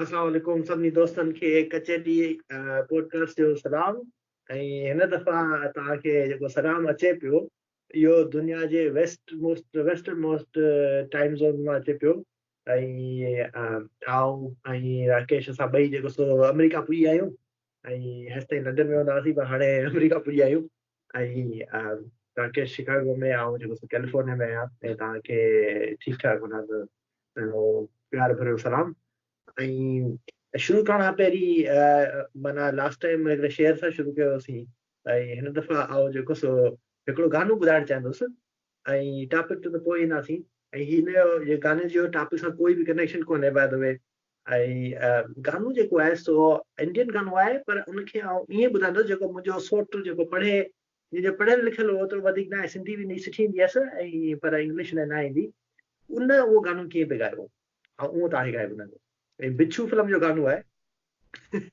السلام عليڪم سڀني دوستن کي ڪچي ڊي پوڊڪاسٽ جو سلام ۽ هن دفعا توهان کي جيڪو سلام اچي پيو اهو دنيا جي west most western most time zone مان اچي پيو ۽ آئون ۽ راڪيش اسان ٻئي جيڪو سو آمريڪا پوئي آهيون ۽ هيستائين لنڊن ۾ هوندا هئاسين پر هاڻي آمريڪا پڄيا آهيون ۽ تانکي شڪاگو ۾ آئون جيڪو سو ڪيليفورنيا ۾ آهيان ۽ تانکي ٺيڪ ٺاڪ هوندا ته پنهنجو پيار ڀريو سلام ۽ شروع ڪرڻ کان پهرين معنيٰ لاسٽ ٽائيم هڪڙي شعر سان شروع ڪيو هوسين ۽ هن دفعا آئون جيڪو سو هڪڙو گانو ٻڌائڻ چاهندس ۽ ٽاپڪ تي ته پوء اينداسين ۽ هن جو گاني جو ٽاپڪ سان ڪوئي به ڪنيڪشن ڪونهي باء دا وي ۽ گانو جيڪو آهي سو انڊين گانو آهي پر ان کي آئون ائين ٻڌائيندس جيڪو منهنجو سوٽ جيڪو پڙهي جنهن جو پڙهيل لکيل اوترو وڌيڪ ناهي سنڌي ويندي سٺي ايندي هيس ۽ پر انگلش نه نه ايندي ان اهو گانو ڪيئن پئي ڳايو هو ۽ اهو توهان کي ڳائي ٻڌائيندس ۽ بڇو فلم جو گانو آهي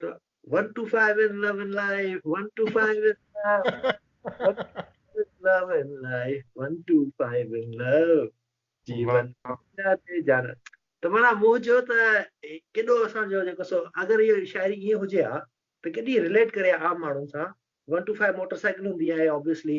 ته one two five in love in life one two five in love in life one two five in love جي ون تي جان ته مانا مون چيو ته ڪيڏو اسان جو جيڪو سو اگر هي شاعري ائين هجي ها ته ڪيڏي ريليٽ ڪري عام ماڻهن سان one two five motor cycle هوندي آهي آبويسلي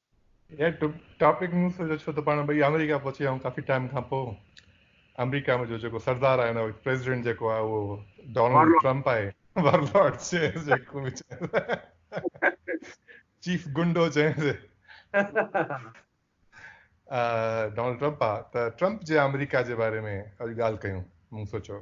يار ٽاپڪ مون سوچيو ڇو ته پاڻ ٻئي آمريڪا پهچي ويا ڪافي ٽائيم کان پوء آمريڪا ۾ جو جيڪو سردار آهي نه پريزيڊنٽ جيڪو آهي اهو ڊونلڊ ٽرمپ آهي ورلارڊ چيز جيڪو چيف گنڊو چيز ڊونلڊ ٽرمپ آهي ته ٽرمپ جي آمريڪا جي باري ۾ اڄ ڳالهه ڪيون مون سوچيو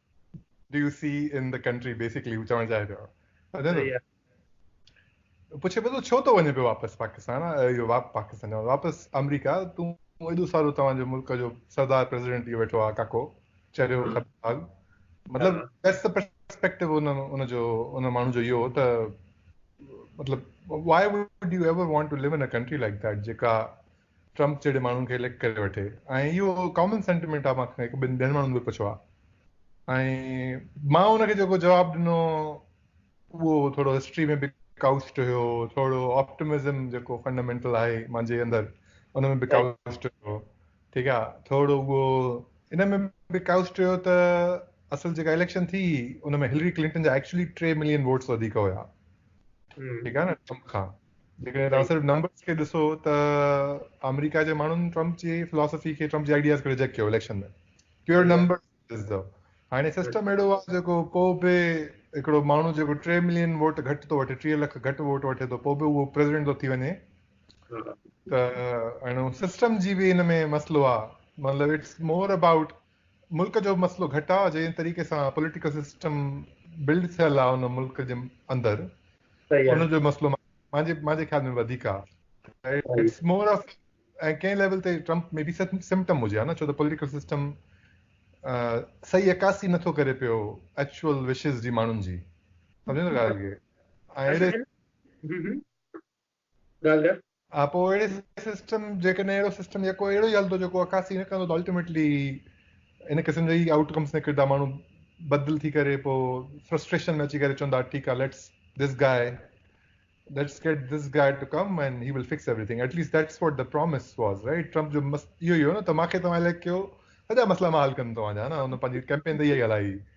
do you see in the country basically هو چوڻ چاهي پيو پڇي پيو ڇو ٿو وڃي پيو واپس پاڪستان اهو واپ پاڪستان واپس آمريڪا تون ايڏو سارو توهان جو ملڪ جو سردار پريزيڊنٽ ٿي ويٺو آ ڪاڪو چريو خطاب مطلب ديس دي پرسپيڪٽو ان ان جو ان ماڻهو جو اهو ته مطلب why would you ever want to live in a country like that جيڪا ٽرمپ جهڙي ماڻهن کي اليڪٽ ڪري وٺي ۽ اهو ڪامن سينٽيمنٽ آهي مان کان هڪ ٻن ٻين ماڻهن به پڇيو آهي ۽ مان ان کي جيڪو جواب ڏنو اهو ٿورو هسٽري ۾ به ڪائوسٽ هيو ٿورو آپٽمزم جيڪو فنڊامينٽل آهي مانجي اندر ان ۾ به ڪائوسٽ هيو ٺيڪ آهي ٿورو اهو ان ۾ به ڪائوسٽ هيو ته اصل جيڪا اليڪشن ٿي ان ۾ هلري ڪلنٽن جا ايڪچولي ٽي ملين ووٽس وڌيڪ هيا ٺيڪ آهي نه ٽرمپ کان جيڪڏهن توهان صرف نمبرز کي ڏسو ته آمريڪا جي ماڻهن ٽرمپ جي فلاسفي کي ٽرمپ جي آئيڊياز کي ريجيڪٽ ڪيو election ۾ pure number is though هاڻي سسٽم اهڙو آهي جيڪو پو به هڪڙو ماڻهو جيڪو 3 ملين ووٽ گهٽ ٿو وٺي 3 لک گهٽ ووٽ وٺي ٿو پو به اهو پريزيڊنٽ ٿو ٿي وڃي ته هاڻي سسٽم جي به ان ۾ مسئلو آهي مطلب اٽس مور اباؤٽ ملڪ جو مسئلو گهٽ آ جنهن طريقي سان پوليٽيڪل سسٽم بلڊ ٿيل آ ان ملڪ جي اندر ان جو مسئلو مانجي مانجي خيال ۾ وڌيڪ آ اٽس مور آف ۽ ڪنهن ليول تي ٽرمپ مي بي سمپٽم هجي ها نه ڇو ته پوليٽيڪل سسٽم صحيح عڪاسي نٿو ڪري پيو ايڪچوئل وشز جي ماڻهن جي سمجهو ٿا ڳالهه کي ڳالهه. ها پوء اهڙي سسٽم جيڪڏهن اهڙو سسٽم يڪو اهڙو ئي هلندو جيڪو عڪاسي نه ڪندو ته الٽيميٽلي ان قسم جا ئي آئوٽ ڪمس نڪردا ماڻهو بدل ٿي ڪري پوء فرسٽريشن ۾ اچي ڪري چوندا ٺيڪ آهي let's this guy let's get this guy to come and he will fix everything at least that's what the promise was right Trump جو مست اهو ئي هو نه ته ماکي توهان اليڪٽ ڪيو سڄا مسئلا مان حل ڪندم توهان جا نه هن پنهنجي ڪيمپين ته اها ئي هلائي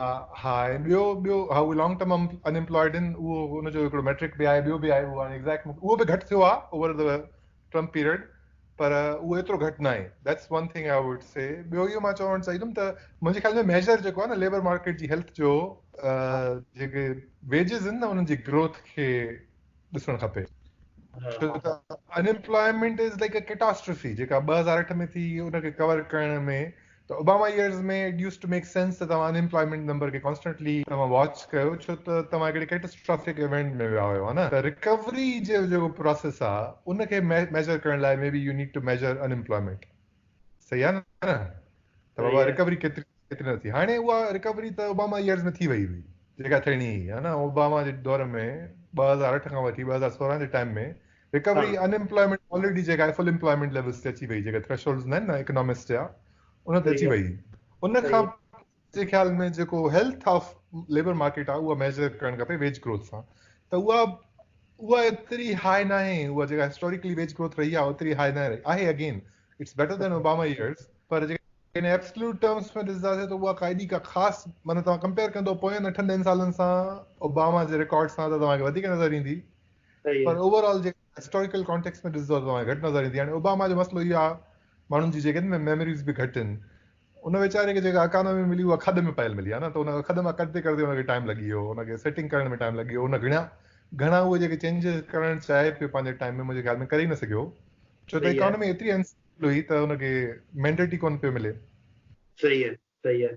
ها ۽ ٻيو ٻيو ها اهي لانگ ٽرم ان امپلائيڊ آهن اهو ان جو هڪڙو ميٽرڪ به آهي ٻيو به آهي اهو هاڻي ايگزيڪٽ مون کي اهو به گهٽ ٿيو آهي اوور دي ٽرم پيريڊ پر اهو ايترو گهٽ نه آهي that's one thing I would see ٻيو اهو مان چوڻ چاهيندم ته منهنجي خيال ۾ ميجر جيڪو آهي نه ليبر مارڪيٽ جي هيلٿ جو جيڪي ويجز آهن نه انهن جي گروٿ کي ڏسڻ کپي ان امپلائيمينٽ از لائڪ ا ڪيٽاسٽرفي جيڪا ٻه هزار اٺ ۾ ٿي ان کي ڪور ڪرڻ ۾ ته Obama years ۾ it used to make sense ته توهان ان ايمپلائمينٽ نمبر کي ڪانسٽنٽلي توهان واچ ڪيو ڇو ته توهان هڪڙي ڪيٽسٽرافڪ ايونٽ ۾ ويا هيو ها نه ته رڪوري جو جيڪو پراسيس آهي ان کي ميجر ڪرڻ لاء may be you need to measure unemployment صحيح آهي نه ته بابا رڪوري ڪيتري ڪيتري نه ٿي هاڻي اها رڪوري ته اوباما يئرز ۾ ٿي وئي هئي جيڪا ٿيڻي هئي ها نه اوباما جي دور ۾ ٻه هزار اٺ کان وٺي ٻه هزار سورهن جي time ۾ recovery unemployment already جيڪا آهي فل ايمپلائمينٽ ليولز تي اچي وئي جيڪا ٿريشولڊز نه آهن اڪنامڪس جا ان تي اچي وئي ان کان جي خيال ۾ جيڪو هيلٿ آف ليبر مارڪيٽ آهي اها ميجر ڪرڻ کپي ويج گروٿ سان ته اها اها ايتري هاء نه آهي اها جيڪا هسٽوريڪلي ويج گروٿ رهي آهي ايتري هاء نه رهي آهي again it's better than Obama years پر جيڪا ان ابسلوٽ ٽرمز ۾ ڏسنداسي ته اها قائدي کا خاص معنی توهان ڪمپيئر ڪندو پوين اٺن ڏهن سالن سان اوباما جي رڪارڊ سان ته توهان کي وڌيڪ نظر ايندي پر اوور آل جيڪا هسٽاريڪل ڪانٽيڪس ۾ ڏسجو ته گهٽ نظر ايندي هاڻي اوباما جو مسئلو اهو آهي ماڻهن جي جيڪي ۾ ميموريز به گهٽ آهن ان ويچاري کي جيڪا اڪانومي ملي اها کڏ ۾ پيل ملي آهي نه ته ان کڏ مان ڪڍندي ڪڍندي ان کي ٽائيم لڳي ويو ان کي سيٽنگ ڪرڻ ۾ ٽائيم لڳي ويو ان گهڻا گهڻا اهي جيڪي چينجز ڪرڻ چاهي پيو پنهنجي ٽائيم ۾ منهنجي خيال ۾ ڪري نه سگهيو ڇو ته اڪانومي ايتري انسٽيبل هئي ته ان کي مينڊيٽ ئي ڪونه پيو ملي صحيح صحيح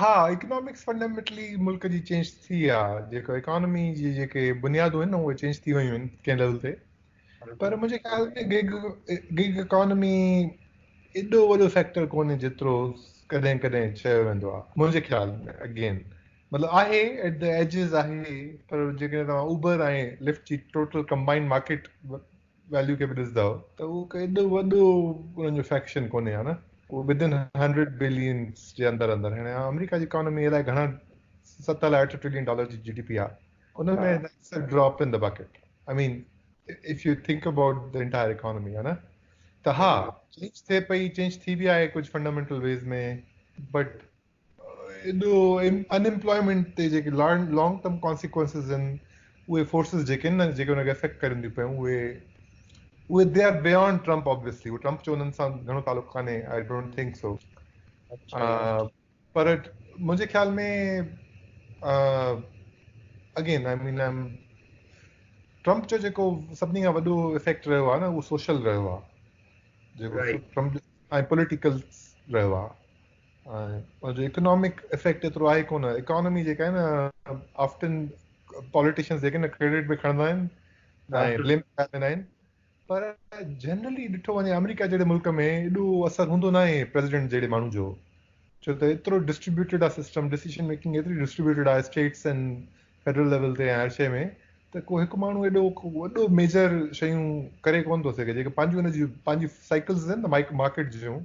ها اڪنامڪس فنڊامينٽلي ملڪ جي چينج ٿي آهي جيڪو اڪانومي جي جيڪي بنيادون آهن اهي چينج ٿي ويون آهن ڪنهن ليول تي پر منهنجي خيال ۾ گيگ گيگ اڪانومي ايڏو وڏو فيڪٽر ڪونهي جيترو ڪڏهن ڪڏهن چيو ويندو آهي منهنجي خيال ۾ اگين مطلب آهي ایٽ د ايجز آهي پر جيڪڏهن توهان اوبر ۽ لفٽ جي ٽوٽل ڪمبائنڊ مارڪيٽ ويليو کي به ڏسندا ته اهو ايڏو وڏو انهن جو فيڪشن ڪونهي ها نه اهو بدن هنڊريڊ بلينس جي اندر اندر هاڻي آمريڪا جي اڪانومي الائي گهڻا ست الائي اٺ ٽريلين ڊالر جي جي ڊي پي آهي ان ۾ drop in the bucket I mean if you think about the entire economy ها نه ته ها چينج ٿئي پئي چينج ٿي بي آهي ڪجهه فنڊامينٽل ويز ۾ بٽ ايڏو ان ايمپلائمينٽ تي جيڪي لانگ ٽرم ڪانسيڪوئنسز آهن اهي فورسز جيڪي آهن نه جيڪي ان کي افيڪٽ ڪرين ٿيون پيون اهي اهي they are beyond Trump obviously اهو ٽرمپ جو انهن سان گهڻو تعلق ڪانهي آئي ڊونٽ ٿنڪ سو پر منهنجي خيال ۾ again I mean I'm Trump جو جيڪو سڀني کان وڏو افيڪٽ رهيو آهي نه اهو سوشل رهيو آهي جيڪو ٽرمپ ۽ پوليٽيڪل رهيو آهي ان جو اڪنامڪ افيڪٽ ايترو آهي ڪونه اڪانومي جيڪا آهي نه آفٽن پاليٽيشنز جيڪي نه ڪريڊٽ به کڻندا آهن ۽ بليم به ڪرائي ويندا آهن پر جنرلي ڏٺو وڃي آمريڪا جهڙي ملڪ ۾ ايڏو اثر هوندو ناهي پريزيڊنٽ جهڙي ماڻهو جو ڇو ته ايترو ڊسٽريبيوٽيڊ آهي سسٽم ڊيسيشن ميڪنگ ايتري ڊسٽريبيوٽيڊ آهي اسٽيٽس ۽ فيڊرل ليول تي هر شيء ۾ ته کو هڪ ماڻهو ايڏو وڏو ميجر شيون ڪري ڪون ٿو سگهي جيڪي پنهنجون هن جون پنهنجون سائيڪلز آهن نه مارڪيٽ جون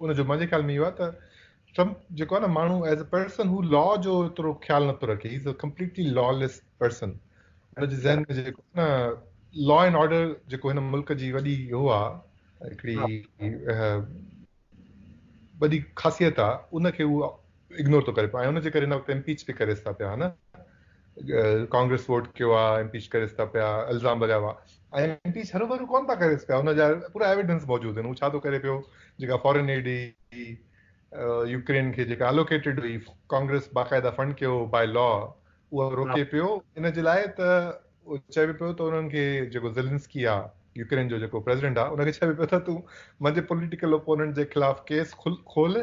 ان جو منهنجي خيال ۾ اهو آهي ته ٽرمپ جيڪو آهي نه ماڻهو ايز اي پرسن هو لا جو ايترو خيال نٿو رکي is a completely lawless person هن جي ذهن ۾ جيڪو نه لا اینڈ آرڊر جيڪو هن ملڪ جي وڏي هو آهي هڪڙي وڏي خاصيت آهي ان کي هو اگنور ٿو ڪري پيو ۽ ان جي ڪري هن وقت امپيچ به ڪريس ٿا پيا نه ڪانگريس ووٽ ڪيو آ امپيچ ڪريس ٿا پيا الزام لڳايو آ ۽ امپيچ هر ڀرو ڪون ٿا ڪريس پيا ان جا پورا ايويڊنس موجود آهن هو ڇا ٿو ڪري پيو جيڪا فارين ايڊ هئي يوڪرين کي جيڪا الوڪيٽيڊ هئي ڪانگريس باقاعده فنڊ ڪيو باي لا اهو روڪي پيو ان جي لاء ته چئبو پيو ته انهن کي جيڪو زلنسڪي آ يوڪرين جو جيڪو پريزيڊنٽ آ ان کي چئبو پيو ته تون منهنجي پوليٽيڪل اپوننٽ جي خلاف ڪيس کول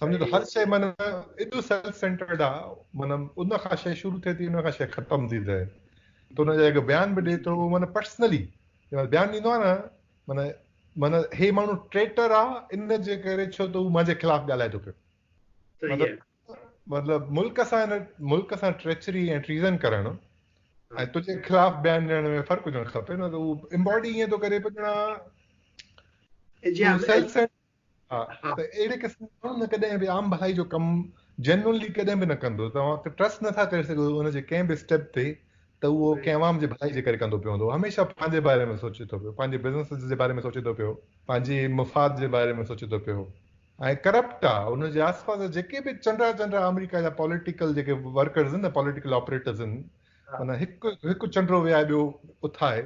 سمجهو ته هر شيء معنيٰ ايڏو سيلف سينٽرڊ آ معنيٰ ان کان شيء شروع ٿئي ٿي ان کان شيء ختم ٿي ته ان جا جيڪا بيان به ڏي ٿو اهو معنيٰ پرسنلي بيان ڏيندو آ نه معنيٰ معنيٰ هي ماڻهو ٽريٽر آ ان جي ڪري ڇو ته هو مانجي خلاف ڳالهائي ٿو پيو مطلب ملڪ سان ملڪ سان ٽريچري ۽ ٽريزن ڪرڻ ۽ تنهنجي خلاف بيان ڏيڻ ۾ فرق هجڻ کپي نه ته هو امباڊي ائين ٿو ڪري پڄڻا سيلف سينٽرڊ ها ته اهڙي قسم جو ماڻهو نه ڪڏهن به عام ڀلائي جو ڪم جينرلي ڪڏهن به نه ڪندو توهان ته ٽرسٽ نٿا ڪري سگهو ان جي ڪنهن به اسٽيپ تي ته اهو ڪنهن عوام جي ڀلائي جي ڪري ڪندو پيو هوندو هميشه پنهنجي باري ۾ سوچي ٿو پيو پنهنجي بزنس جي باري ۾ سوچي ٿو پيو پنهنجي مفاد جي باري ۾ سوچي ٿو پيو ۽ ڪرپٽ آ ان جي آس پاس جيڪي به چنڊا چنڊا آمريڪا جا پوليٽيڪل جيڪي ورڪرز آهن پوليٽيڪل آپريٽرز آهن هن هڪ هڪ چنڊو ويهائي ٻيو اٿائي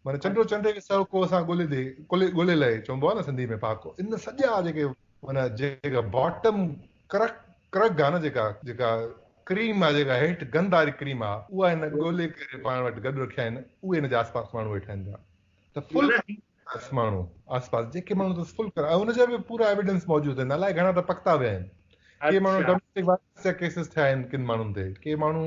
معنيٰ چنڊو چنڊي کي سهڪو اسان ڳولي ڏي ڪلي ڳولي لئي چونبو آهي نه سنڌي ۾ پهاڪو ان سڄا جيڪي معنيٰ جيڪا باٽم ڪرڪ ڪرڪ آهي نه جيڪا جيڪا ڪريم آهي جيڪا هيٺ گند واري ڪريم آهي اها هن ڳولي ڪري پاڻ وٽ گڏ رکيا آهن اهي هن جا آس پاس ماڻهو ويٺا آهن پيا ته فل آس ماڻهو آس پاس جيڪي ماڻهو اٿس فل ڪرا ان جا به پورا ايويڊنس موجود آهن الائي گهڻا ته پڪتا ويا آهن ڪي ماڻهو ڊوميسٽڪ وائلنس جا ڪيسز ٿيا آهن ڪن ماڻهن تي ڪي ماڻهو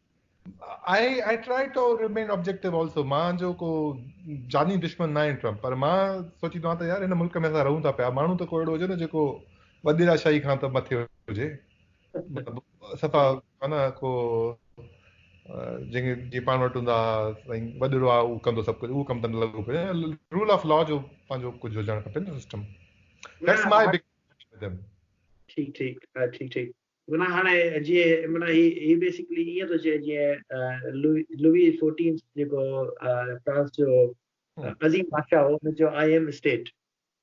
I I try to remain objective also مان جو ڪو جاني دشمن ناهي ٽرمپ پر مان سوچيندو آهيان ته يار هن ملڪ ۾ اسان رهون ٿا پيا ماڻهو ته ڪو اهڙو هجي نه جيڪو وڏيرا شاهي کان ته مٿي هجي صفا مانا ڪو جن کي جي پاڻ وٽ هوندا سائين وڏيرو آ او ڪندو سڀ ڪجهه او ڪم تن لڳو پيو رول آف لا جو پنهنجو ڪجهه هجڻ کپي نه سسٽم ٺيڪ ٺيڪ ٺيڪ ٺيڪ معنيٰ هاڻي جيئن معنيٰ هي هي بيسڪلي ائين ٿو چئي جيئن لوئي لوئي فورٽينٿ جيڪو فرانس جو عظيم بادشاهه هو هن چيو آئي ايم اسٽيٽ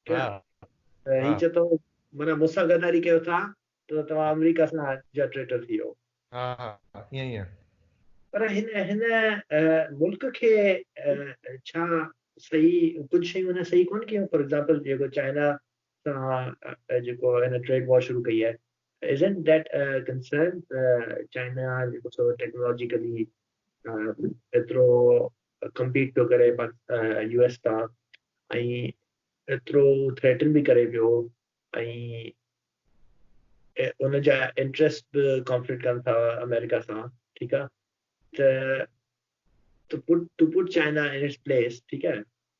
ٺيڪ آهي هي چئي ٿو معنيٰ مون سان غداري ڪيو ٿا ته توهان آمريڪا سان جا ٽريٽر ٿي ويو ها ها ائين ئي آهي پر هن هن ملڪ کي ڇا صحيح ڪجهه شيون هن صحيح ڪونه ڪيون فار ايگزامپل جيڪو چائنا سان جيڪو هن ٽريڊ وار شروع ڪئي آهي Isn't that a concern ته چائنا جيڪو سو ٽيڪنالاجيڪلي ايترو ڪمپيٽ پيو ڪري يو ايس سان ۽ ايترو ٿريٽن به ڪري پيو ۽ ان جا انٽرسٽ به ڪانفلڪٽ ڪن ٿا آمريڪا سان ٺيڪ آهي ته to put China in its place ٺيڪ آهي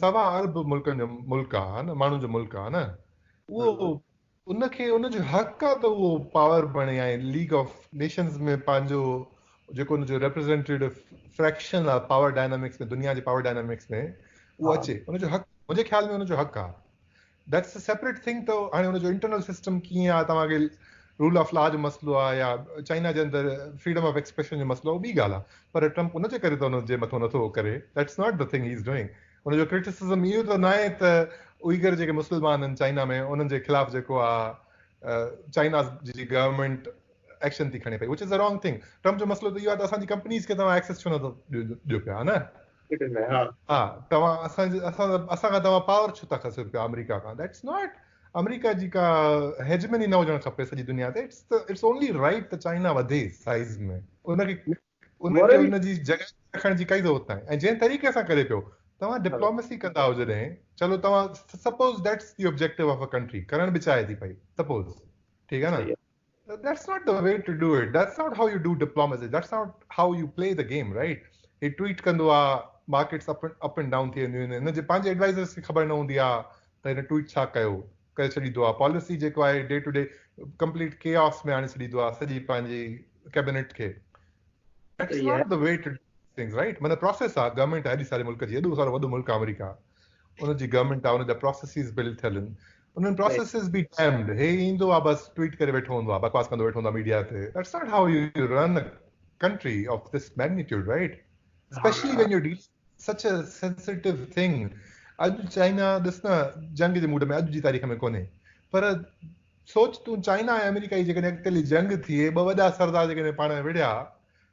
سوا عرب ملڪن جو ملڪ آ نه ماڻهن جو ملڪ آ نه اهو ان کي ان جو حق آ ته اهو پاور بڻي ۽ ليگ آف نيشنز ۾ پنهنجو جيڪو ان جو ريپريزنٽيو فريڪشن آ پاور ڊائنامڪس ۾ دنيا جي پاور ڊائنامڪس ۾ اهو اچي ان جو حق منهنجي خيال ۾ ان جو حق آ That's a separate thing ته هاڻي ان جو انٽرنل سسٽم ڪيئن آهي توهان کي رول آف لا جو مسئلو آهي يا چائنا جي اندر فريڊم آف ايڪسپريشن جو مسئلو اهو ٻي ڳالهه آهي پر ٽرمپ ان جي ڪري ته ان جي مٿو نٿو ڪري That's not the thing he is doing ان جو ڪرٽيسزم اهو ته ناهي ته اوئيگر جيڪي مسلمان آهن چائنا ۾ انهن جي خلاف جيڪو آهي چائنا جي گورنمينٽ ايڪشن ٿي کڻي پئي which is a wrong thing Trump جو مسئلو ته اهو آهي ته اسان جي ڪمپنيز کي توهان ايڪسيس ڇو نٿو ڏيو پيا نه ڪيڏن لاء ها. ها توهان اسان اسان اسان کان توهان پاور ڇو ٿا کسيو پيا آمريڪا کان ڏيٽس ناٽ آمريڪا جي ڪا هيجمني نه هجڻ کپي سڄي دنيا تي اٽس اٽس اونلي رائيٽ ته چائنا وڌي سائيز ۾ ان کي ان کي ان جي جڳهه رکڻ جي ڪائي ضرورت ناهي ۽ جنهن طريقي سان ڪري پيو توهان ڊپلوميسي ڪندا آهو جڏهن چلو توهان suppose that's the objective of a country ڪرڻ به چاهي ٿي پئي سپوز ٺيڪ آهي نه That's not the way to do it. That's not how you do diplomacy. That's not how you play the game, right? هي ٽويٽ ڪندو آ markets up up and down ٿي وينديون آهن هن جي پنهنجي ايڊوائزرز کي خبر نه هوندي آ ته هن ٽويٽ ڇا ڪيو ڪري ڇڏيندو آ پاليسي جيڪو آهي day to day complete chaos ۾ آڻي ڇڏيندو آ سڄي پنهنجي ڪيبنيٽ کي it's not the way to things right مطلب پروسيس آ گورنمنٽ آهي ساري ملڪ جي اڏو سارو وڏو ملڪ آ آمريڪا ان جي گورنمنٽ آ ان جا پروسيسز بلڊ ٿيل آهن انهن پروسيسز بي ڊيمڊ هي ايندو آ بس ٽويٽ ڪري ويٺو هوندو آ بڪواس ڪندو ويٺو هوندو آ ميڊيا تي that's not how you run a country of this magnitude right especially when you deal such a sensitive thing اڄ چائنا ڏس نه جنگ جي موڊ ۾ اڄ جي تاريخ ۾ ڪونهي پر سوچ تون چائنا ۽ آمريڪا جي جيڪڏهن اڳتيلي جنگ ٿئي ٻه وڏا سردار جيڪڏهن پاڻ ۾ وڙهيا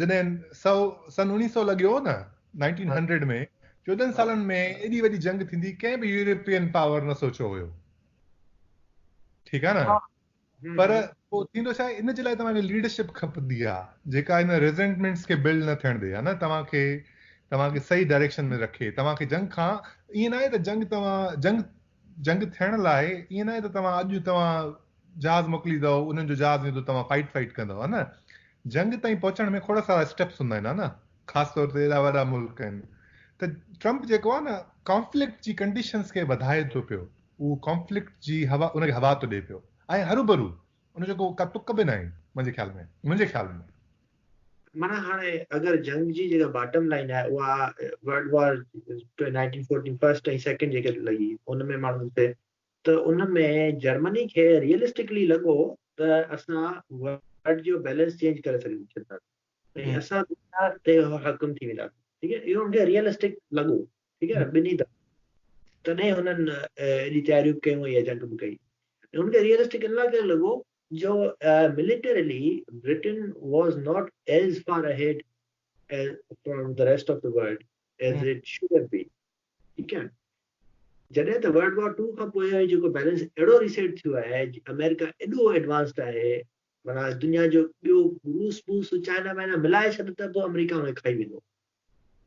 جڏهن سؤ سن اڻيهه سؤ لڳيو نه نائنٽين هنڊريڊ ۾ چوڏهن سالن ۾ ايڏي وڏي جنگ ٿيندي ڪنهن به يورپين پاور نه سوچيو هيو ٺيڪ آهي نه پر پوء ٿيندو ڇا ان جي لاء توهان کي ليڊرشپ کپندي آهي جيڪا ان ريزنٽمينٽس کي بلڊ نه ٿيڻ ڏي ها نه توهان کي توهان کي صحيح ڊائريڪشن ۾ رکي توهان کي جنگ کان ائين نه آهي ته جنگ توهان جنگ جنگ ٿيڻ لاء ائين ناهي ته توهان اڄ توهان جهاز موڪليندؤ انهن جو جهاز ايندو توهان فائٽ فائٽ ڪندؤ ها نه جنگ تائين پهچڻ ۾ کوڙا سارا اسٽيپس هوندا آهن ها نه خاص طور تي ايڏا وڏا ملڪ آهن ته ٽرمپ جيڪو آهي نه ڪانفلڪٽ جي ڪنڊيشنز کي وڌائي ٿو پيو اهو ڪانفلڪٽ جي هوا ان کي هوا ٿو ڏي پيو ۽ هروڀرو ان جو ڪو تڪ به ناهي منهنجي خيال ۾ منهنجي خيال ۾ معنيٰ هاڻي اگر جنگ جي جيڪا باٽم لائين آهي اها world war nineteen fourteen first ۽ second جيڪي لڳي ان ۾ ماڻهن کي ته ان ۾ جرمني کي ريئلسٽڪلي لڳو ته اسان ورلڊ جو بيلنس چينج ڪري سگهون ٿا ۽ اسان دنيا تي حاڪم ٿي وينداسين ٺيڪ اهو ان کي ريئلسٽڪ لڳو ٺيڪ آهي ٻنهي تڏهن هنن ايڏي تياريون ڪيون ۽ جنگ به ڪئي ان کي ريئلسٽڪ ان لاء ڪري لڳو جو militarily Britain was not as far ahead from the rest of the world as it should have been ٺيڪ آهي جڏهن ته ورلڊ وار ٽو کان پوء جيڪو بيلنس اهڙو ريسيٽ ٿيو آهي آمريڪا ايڏو ايڊوانسڊ آهي مانا دنيا جو ٻيو روس بوس چائنا وائنا ملائي ڇڏ ته به آمريڪا ۾ کائي ويندو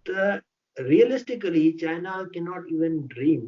ته ريئلسٽڪلي چائنا ڪي ناٽ ايون ڊريم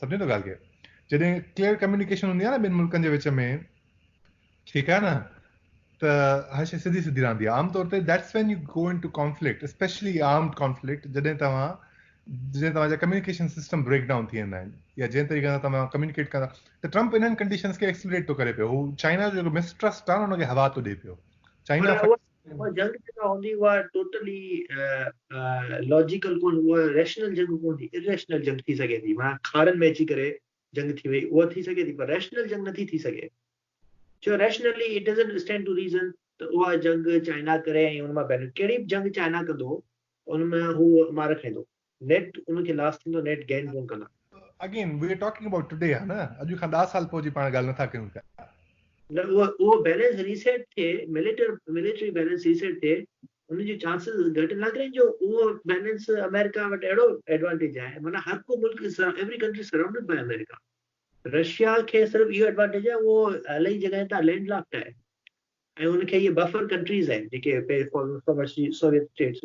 سمجهو ٿا ڳالهه کي جڏهن ڪليئر ڪميونيڪيشن هوندي آهي نه ٻن ملڪن جي وچ ۾ ٺيڪ آهي نه ته هر شي سڌي سڌي رهندي آهي عام طور تي that's when you go in to conflict especially armed conflict جڏهن توهان جڏهن توهان جا ڪميونيڪيشن سسٽم بريڪ ڊائون ٿي ويندا آهن يا جنهن طريقي سان توهان ڪميونيڪيٽ ڪندا ته ٽرمپ انهن ڪنڊيشنز کي ايڪسلريٽ ٿو ڪري پيو هو چائنا جو جيڪو مسٽرسٽ آهي نه ان کي هوا ٿو ڏي پيو چائنا اها جنگ جيڪا هوندي اها ٽوٽلي لاجيڪل ڪونه اها ريشنل جنگ ڪونه ٿي اريشنل جنگ ٿي سگهي ٿي معنيٰ کاڙن ۾ اچي ڪري جنگ ٿي وئي اها ٿي سگهي ٿي پر ريشنل جنگ نٿي ٿي سگهي جو rationally it doesn't stand to reason ته اها جنگ چائنا ڪري ۽ ان مان بينيفٽ ڪهڙي به جنگ چائنا ڪندو ان ۾ هو مار کائيندو نيٽ ان کي لاس ٿيندو نيٽ گين ڪون ڪندا. Again we are talking about today ها نه اڄ کان 10 سال پوء جي پاڻ ڳالھ نٿا ڪيون پيا. نه اهو اهو بيلنس ريسيٽ ٿئي مليٽر مليٽري بيلنس ريسيٽ ٿئي ان جي چانسز گهٽ نه ڪرين جو اهو بيلنس امريڪا وٽ اهڙو ايڊوانٽيج آهي معنيٰ هر ڪو ملڪ every country surrounded by America Russia کي صرف اهو ايڊوانٽيج آهي اهو الائي جڳهين تان لينڊ لاڪ آهي ۽ ان کي اهي بفر ڪنٽريز آهن جيڪي پهرين former Soviet states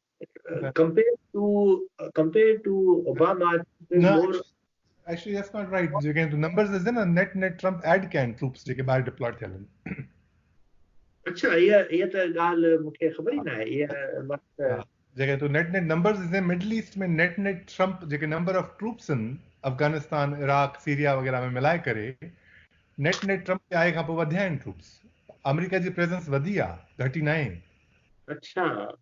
compared to compared to Obama more actually that's not right جيڪي تو نمبرز ڏسين نا نيٽ نيٽ ٽرمپ ايڊ ڪيا آهن ٽروپس جيڪي ٻاهر ڊپلوئڊ ٿيل آهن اچھا هي هي ته ڳالهه مون کي خبر ئي نه آهي هي جيڪي تو نيٽ نيٽ نمبرز ڏسين Middle East ۾ net net Trump جيڪي نمبر آف ٽروپس آهن افغانستان عراق سيريا وغيرها ۾ ملائي ڪري نيٽ نيٽ ٽرمپ جي آئي کان پوء وڌيا آهن ٽروپس آمريڪا جي پريزنس وڌي آهي گهٽي نه آهي اچھا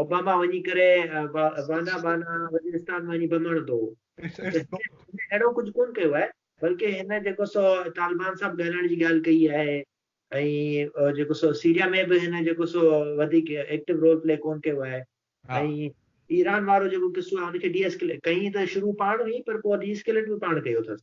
اوباما وڃي ڪري بانا بانا وزيرستان ۾ وڃي بم هڻندو هو. هن اهڙو ڪجهه ڪونه ڪيو آهي، بلڪه هن جيڪو سو طالبان سان به ڳالهائڻ جي ڳالهه ڪئي آهي ۽ جيڪو سو سيريا ۾ به هن جيڪو سو وڌيڪ ايڪٽو رول پلي ڪونه ڪيو آهي ۽ ايران وارو جيڪو قصو آهي ان کي ڊي ايسڪليٽ ڪئي ته شروع پاڻ هئي پر پوء ڊي ايسڪليٽ به پاڻ ڪيو اٿس.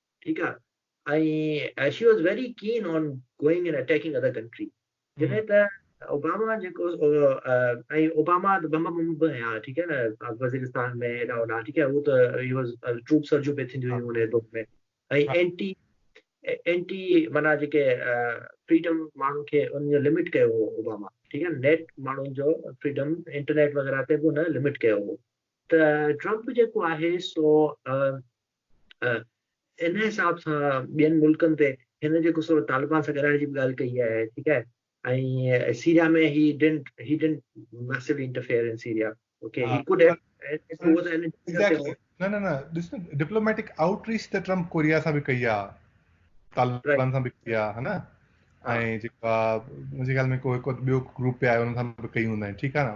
ٺيڪ آ ۽ she was very keen on going and attacking other country جڏهن ته اوباما جيڪو ۽ اوباما ته بم بم به هيا ٺيڪ آهي نه وزيرستان ۾ هيڏا هوڏا ٺيڪ آهي هو ته هي واز ٽروپ سرجيون پي ٿينديون هيون ان دور ۾ ۽ اينٽي اينٽي معنيٰ جيڪي فريڊم ماڻهن کي ان جو لمٽ ڪيو هو اوباما ٺيڪ آهي نيٽ ماڻهن جو فريڊم انٽرنيٽ وغيرہ تي به ان لمٽ ڪيو هو ته ٽرمپ جيڪو آهي سو ان حساب سان ٻين ملڪن تي هن جيڪو سو طالبان سان ڳالهائڻ جي به ڳالهه ڪئي آهي ٺيڪ آهي ۽ Syria ۾ he didn't he didn't massively interfere in Syria okay he could نه نه نه ڏس ڊپلوميٽڪ آؤٽ ريچ ته ٽرمپ ڪوريا سان به ڪئي آ طالبان سان به ڪئي آ ها نه ۽ جيڪا منهنجي خيال ۾ ڪو هڪ ٻيو گروپ پي آيو ان سان به ڪئي هوندا آهن ٺيڪ آ نه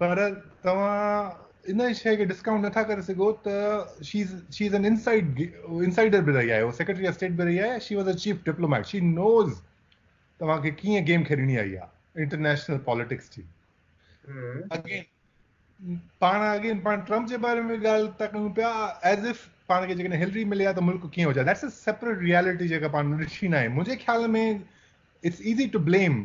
پر توهان ان شيء کي ڊسڪائونٽ نٿا ڪري سگهو ته شي شي از ان انسائيڊ انسائيڊر به رهي آهي هو سيڪريٽري آف اسٽيٽ به رهي آهي she was a chief diplomat she knows توهان کي ڪيئن گيم کيڏڻي آئي آهي انٽرنيشنل پاليٽڪس جي اگين پاڻ اگين پاڻ ٽرمپ جي باري ۾ ڳالهه تا ڪيون پيا ایز اف پاڻ کي جيڪڏهن هلري ملي ها ته ملڪ ڪيئن هجا ذيٽس ا سيپريٽ ريالٽي جيڪا پاڻ ڏٺي نه آهي منهنجي خيال ۾ اٽس ايزي ٽو بليم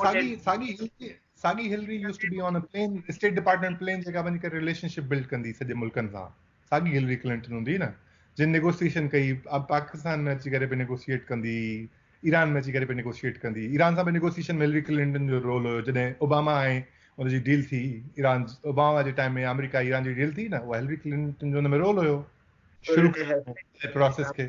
ساڳي ساڳي ساڳي Hillary used to be on a plane state department plane جيڪا وڃي ڪري ريليشن شپ بلڊ ڪندي سڄي ملڪن سان ساڳي هلري ڪلنٽن هوندي نه جن نيگوسيشن ڪئي پاڪستان ۾ اچي ڪري به نيگوسيئيٽ ڪندي ايران ۾ اچي ڪري به نيگوسيئيٽ ڪندي ايران سان به نيگوسيشن ملري ڪلنٽن جو رول هيو جڏهن اوباما آئي ان جي ڊيل ٿي ايران اوباما جي ٽائيم ۾ آمريڪا ايران جي ڊيل ٿي نه اها هلري ڪلنٽن جو ان ۾ رول هيو شروع ڪرڻ پروسيس کي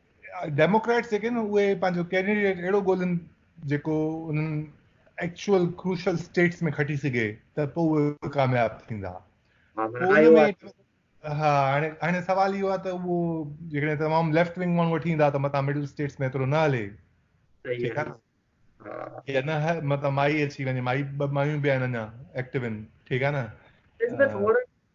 ڊيموڪريٽس جيڪي آهن اهي پنهنجو ڪينڊيڊيٽ اهڙو ڳولهن جيڪو انهن ايڪچوئل ڪروشل اسٽيٽس ۾ کٽي سگهي ته پوء اهي ڪامياب ٿيندا ها هاڻي هاڻي سوال اهو آهي ته اهو جيڪڏهن تمام ليفٽ ونگ ماڻهو وٺي ايندا ته متان مڊل اسٽيٽس ۾ ايترو نه هلي ٺيڪ آهي نه نه متان مائي اچي وڃي مائي ٻه مايون به آهن اڃا ايڪٽيو آهن ٺيڪ آهي نه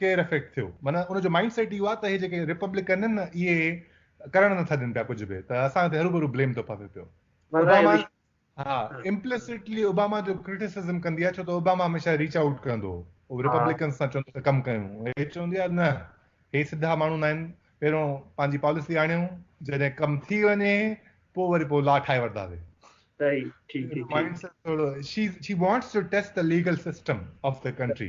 ڪير افيڪٽ ٿيو معنيٰ ان جو مائنڊ سيٽ اهو آهي ته هي جيڪي ريپبلڪن آهن نه اهي ڪرڻ نٿا ڏين پيا ڪجهه به ته اسان تي هروڀرو بليم ٿو پوي پيو اوباما ها امپلسٽلي اوباما جو ڪرٽيسزم ڪندي آهي ڇو ته اوباما هميشه ريچ آئوٽ ڪندو هو ريپبلڪن سان چوندو ته ڪم ڪيون هي چوندي آهي نه هي سڌا ماڻهو نه آهن پهريون پنهنجي پاليسي آڻيو جڏهن ڪم ٿي وڃي پوء وري پوء لا ٺاهي ورتاسي صحيح ٺيڪ ٺيڪ مائنڊ سيٽ ٿورو she she wants to test ته ليگل سسٽم آف ته ڪنٽري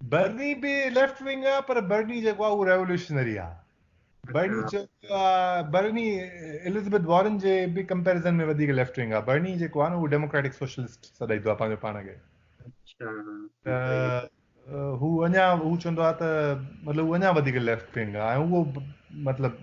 برني به ليفٽ ونگ آ پر برني جيڪو آ اهو ريولوشنري آ برني چيو ويو آ برني اليزبيٿ وارن جي به ڪمپيرزن ۾ وڌيڪ ليفٽ ونگ آ برني جيڪو آ نه اهو ڊيموڪريٽڪ سوشلسٽ سڏائيندو آ پنهنجو پاڻ کي اچھا هو اڃا هو چوندو آ ته مطلب هو اڃا وڌيڪ ليفٽ ونگ آ ۽ اهو مطلب